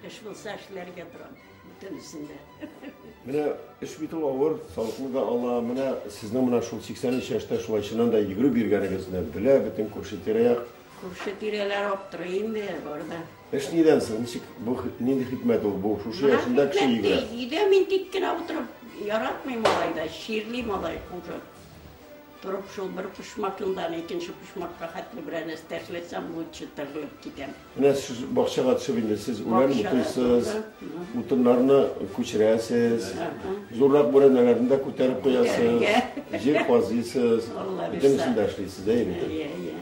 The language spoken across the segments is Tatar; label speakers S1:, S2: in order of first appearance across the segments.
S1: Эш булса эшләргә торам, бөтенесен дә. Менә
S2: эш бит ул авыр, салкын да ала. Менә сезнең менә шул 83 яшьтә шулай чыннан да йөгереп йөргәнегезне белә бөтен күрше тирә-як. Күрше тирәләр
S1: аптырый инде барда. Эш нидән соң?
S2: Ничек бу нинди хикмәт ул? Бу шушы яшендә кеше йөгерә. Өйдә мин тик кенә
S1: утырып яратмыйм алай да, чирлим алай хуже. Торып шул бер почмакыннан икенче почмакка хәтле берәр нәрсә ташласам, бу чытырылып китәм. Менә сез бакчага
S2: төшеп инде сез үлән Бакчага утыйсыз, тура, мгм. утыннарны күчерәсез, Ага. зуррак бүрәнәләрне дә күтәреп куясыз, Күтәрергә. җир казыйсыз, Алла бөтен бирса. эшен дә эшлисез, әйе бит? Иә, иә.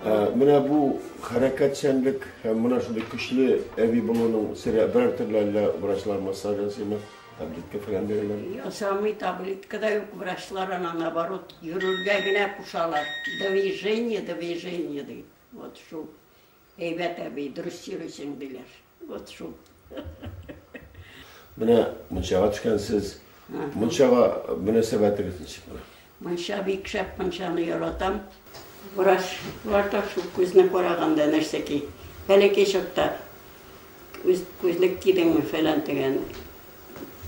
S2: Ә, Менә бу хәрәкәтчәнлек һәм менә шундый көчле әби булуның сере берәр төрле әллә врачлар массаж ясыймы? Таблетка фәлән бирәләр. Ясамый таблетка
S1: да юк, врачлар аны наоборот йөрергә генә кушалар. Движение, движение ди. Вот шул. Әйбәт әби, дөрес йөрисең, диләр. Вот шул.
S2: Менә мунчага төшкәнсез. Мунчага мөнәсәбәтегез ничек? Мунча бик шәп
S1: мунчаны яратам. Врачлар да шул күзне караганда нәрсә ки, бәләкәй чакта күз күзлек кидеңме фәлән дигән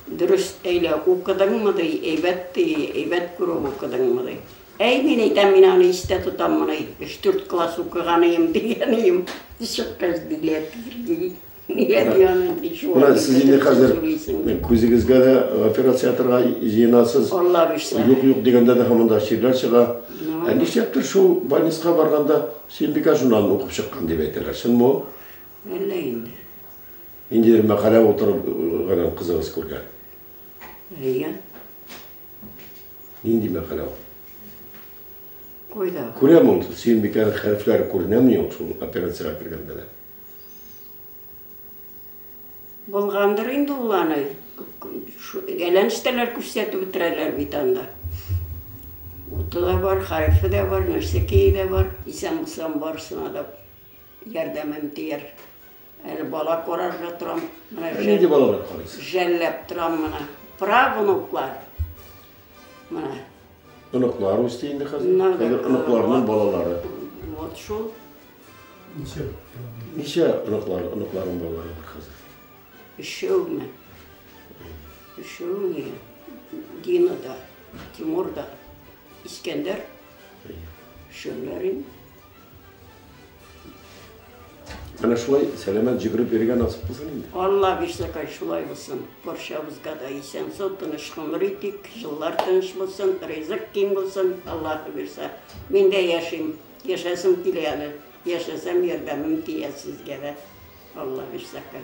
S1: дөрес әйлә укыдыңмы ди, әйбәт ди, әйбәт күреп укыдыңмы ди. Әй, мин әйтәм, мин аны истә тотам моны, өч-дүрт класс укыган ием, дигән ием, чыккач билет бирде. Менә сез инде хәзер
S2: күзегезгә дә операция ясарга җыенасыз. Алла бирсә. Юк,
S1: юк дигәндә дә һаман да
S2: чирләр чыга. Ә нишләптер шул больницага барганда Сөембикә журналын укып чыккан дип әйтәләр. Чынмы ул? Әллә инде.
S1: Ниндидер
S2: мәкалә утырып гына кызыгыз күргән. Әйе. Нинди мәкалә ул?
S1: Кайда? Күрәм ул
S2: Сөембикәнең хәрефләре күренәме юк шул операциягә кергәндә дә?
S1: Булгандыр инде ул аны. Гәләнштәләр күрсәтеп бетерәләр бит анда. Уты да бар, хәрефе дә бар, нәрсә кие дә бар. Исән булсам барсына да ярдәмем тияр. Әле бала карарга торам. Менә нинди балалар
S2: карыйсыз? Жәлләп торам менә.
S1: Правнуклар. Менә.
S2: Оныклар үсте инде хәзер. Хәзер оныкларның балалары. Вот шул.
S1: Ничә?
S2: Ничә оныклар, оныкларың балаларың бар хәзер? Өчәүме?
S1: Өчәү генә. Дина да, Тимур да, Искәндәр. Өчәүләр инде.
S2: Менә шулай сәламәт җигреп йөргән насып булсын инде. Алла бирсәкай
S1: шулай булсын. Барчабызга да исән сау тыныч гомер итик. Җыллар тыныч булсын, ризык киң булсын. Аллаһы бирсә. Мин дә яшим. Яшәсем килә әле, яшәсәм ярдәмем тияр сезгә дә, Алла бирсә кай.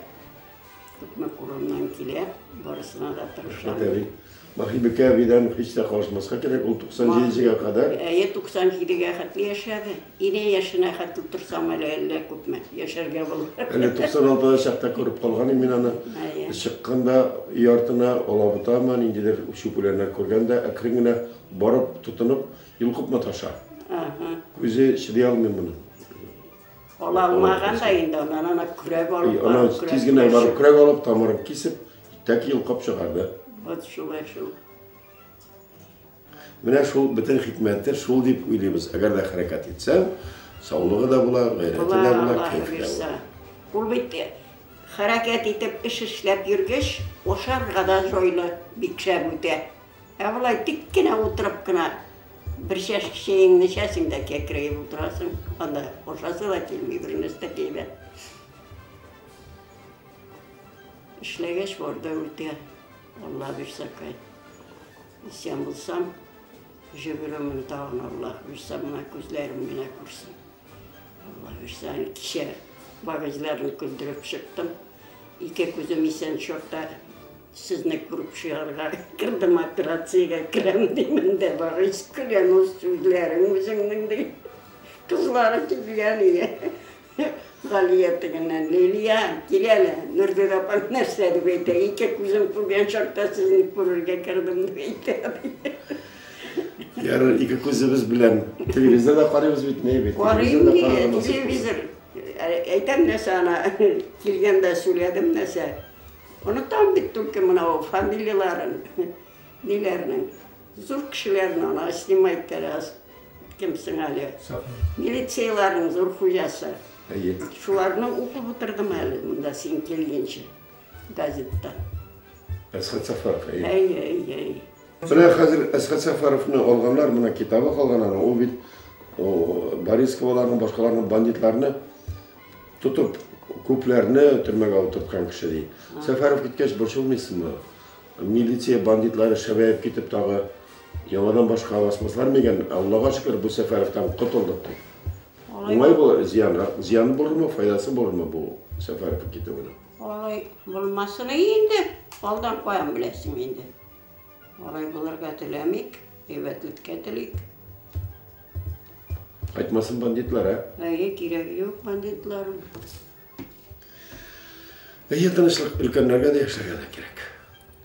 S1: Күпме кулымнан килә, барысына да тырышам. Рәхмәт әби. Бахибикә
S2: әбидән һич тә калышмаска кирәк, ул 97 гә кадәр. Әйе, 97 гә
S1: хәтле яшәде. Ине яшенә хәтле торсам әле әллә күпме яшәргә булыр. Әле 96 да чакта
S2: күреп калган идем мин аны. Әйе. Чыкканда өй артына алабутамы, ниндидер чүп үләннәр күргән дә, әкрен генә барып тотынып, Йолкып маташа. Үзе чыдый алмый моны. Ала
S1: алмаган да инде аннан ана көрәк алып. Ана тиз генә барып
S2: көрәк алып тамырын кисеп, тәки йолкып чыгарды. Вот шулай шул. Менә шул бөтен хикмәте шул дип уйлыйбыз. Әгәр дә хәрәкәт итсәң, саулыгы да була, гайрәте дә була, кәефе дә була. Ул бит
S1: хәрәкәт итеп, эш эшләп йөргәч, ашарга да җайлы, бик шәп үтә. Ә болай тик кенә утырып кына бер чәшке чәеңне эчәсең дә кәкрәеп утырасың. Анда ашасы да килми, бер нәрсә дә килми. Эшләгәч барда үтә. Алла бирсә кай. Исән булсам, җөгеремне тагын Алла бирсә, мына күзләрем генә күрсен. Алла бирсә, кичә багажларын күндереп чыктым. Ике күзем исән чакта Сезне күреп чыгарга кердем, операциягә керәм димен дә барыйс, көләм ул сүзләрең үзеңнең ди. Кызлары килгән иде. Галия тегеннән, Лилия, кил әле, Нургөл апаң нәрсә дип әйтә, ике күзем күргән чакта сезне күрергә кердем дип әйтә, ди.
S2: Ярар, ике күзебез белән телевизор да карыйбыз бит, ни бит. Карыйм ди,
S1: телевизор. Әйтәм нәрсә ана, килгәндә сүләдем нәрсә. Онытам бит түлке мынау фамилияләрен, ниләрнең. Зур кешеләрне ана снимай керәс. Кем соң әле? Милицияләрнең зур хуҗасы. Әйе. Шуларны укып утырдым әле монда син килгәнче газетта.
S2: Әсхат Сафаров,
S1: әйе. Әйе, әйе, әйе. Менә хәзер
S2: Әсхат Сафаровны алганнар, менә китабы калган аны. Ул бит Борисковларны, башкаларны, бандитларны Тотып, күпләрне төрмәгә утырткан кеше, ди. Сәфәров киткәч, борчылмыйсыңмы? Милиция бандитлары шәбәеп китеп тагы яңадан башка басмаслар мигән? Аллага шөкер, бу Сәфәровтан котылдык, ди. Уңай бу зиян, зиян булырмы, файдасы булырмы бу Сәфәров китүенең? Алай
S1: булмасын инде, алдан каян беләсең инде. Алай булырга теләмик, әйбәтлеккә телик.
S2: Кайтмасын бандитлар, ә? Әйе, кирәге юк
S1: бандитлар.
S2: Әйе, тынычлык өлкәннәргә дә яшәргә кирәк.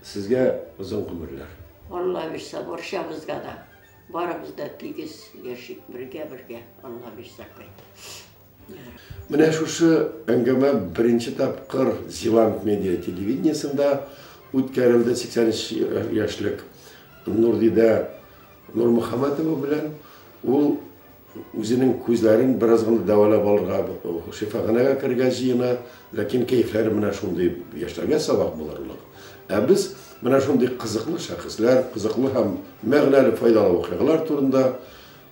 S2: Сезгә озын гомерләр. Алла бирсә,
S1: борчабызга да. Барыбыз да тигез яшик бергә-бергә. Алла бирсә, кайт.
S2: Менә шушы әңгәмә беренче тапкыр Зеланд медиа телевидениесында үткәрелде 83 яшьлек Нурдидә Нурмөхәммәтова белән. Ул үзенең күзләрен бераз гына дәвалап алырга шифаханәгә керергә җыена, ләкин кәефләре менә шундый, яшьләргә сабак булырлык. Ә без менә шундый кызыклы шәхесләр, кызыклы һәм мәгънәле, файдалы вакыйгалар турында